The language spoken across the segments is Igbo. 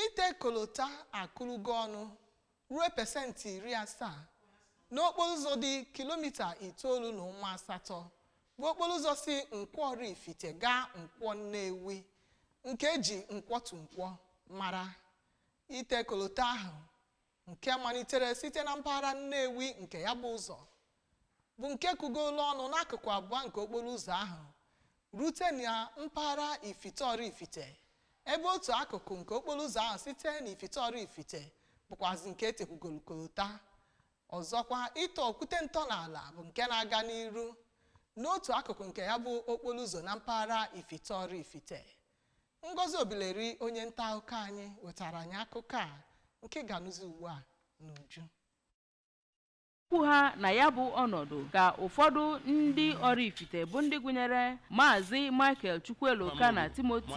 ite kolota akụrụgo ọnụ ruo pesentị iri asaa n'okporo ụzọ dị kilomita itoolu na ụma asatọ bụ okporo ụzọ si nkwọ Oraifite gaa nkwọ Nnewi nke eji nkwọ to nkwọ mara ite kolota ahụ nke malitere site na mpaghara Nnewi nke ya bụ ụzọ bụ nke kụgolu ọnụ n'akụkụ abụọ nke okporo ụzọ ahụ rute na mpaghara Ifite Oraifite ebe otu akụkụ nke okporo ụzọ ahụ site na Ifite Oraifite bụkwazị nke etekwugolu kolota ọzọkwa ịtọ okwute ntọala bụ nke na-aga n'iru n'otu akụkụ nke ya bụ okporo ụzọ na mpaghara Ifite Oraifite Ngozi Obileri onye nta akụkọ anyị wetara anyị akụkọ a nke ga-anụzi ugbu a n'uju okwu ha na ya bụ ọnọdụ ka ụfọdụ ndị Oraifite bụ ndị gụnyere maazị Michael Chukwueloka na Timothy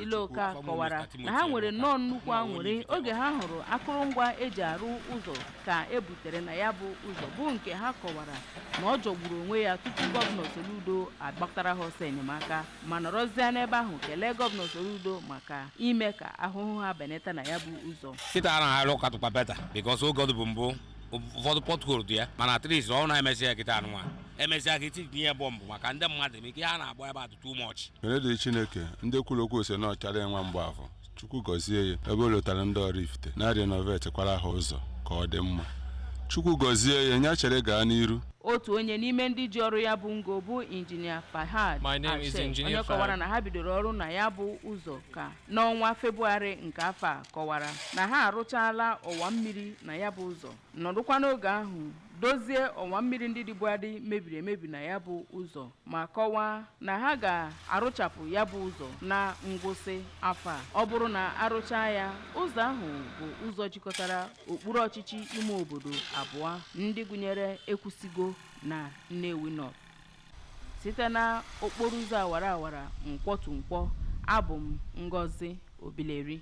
Ileoka kọwara na ha nwere nnọọ nnukwu anwụrị oge ha hụrụ akụrụngwa eji arụ ụzọ ka e butere na ya bụ ụzọ bụ nke ha kọwara na ọ jọgburu onwe ya tupu gọvanọ Soludo agbatara ha ọsọ enyemaka ma nọrọzie n'ebe ahụ kelee gọvanọ Soludo maka ime ka ahụhụ ha benata na ya bụ ụzọ kịta a na-arụ ọ katụkwa better because oge ọ dịbu mbụ ụfọdụ pothole dị ya mana at least ọ na-emesị ya kịta anụnwa emesịa ka e tinye ya bump maka ndị mmadụ ma ike ha na-agba ebe a dị too much ekene dịrị Chineke ndị kwuru okwu sị na ọ Charlie nwa Mgbafọ chukwu gọzie ya ebe o lotara ndị Oraifite na-arenovatekwara ha ụzọ ka ọ dị mma chukwu gọzie ya nya chere gaa n'iru otu onye n'ime ndị ji ọrụ ya bụ ngo bụ injinia Fahad Ashe onye kọwara na ha bidoro ọrụ na ya bụ ụzọ ka n'ọnwa Febụwarị nke afọ a kọwara na ha arụchaala ọwa mmiri na ya bụ ụzọ nọdụkwa n'oge ahụ dozie ọwa mmiri ndị dịbu adị mebiri emebi na ya bụ ụzọ ma kọwaa na ha ga-arụchapụ ya bụ ụzọ na ngwụsị afọ a ọ bụrụ na arụchaa ya ụzọ ahụ bụ ụzọ jikọtara okpuru ọchịchị ime obodo abụọ ndị gụnyere ekwusigo na nnewi north site na okporo ụzọ awara awara nkwọ to nkwọ abụ m ngozi obileri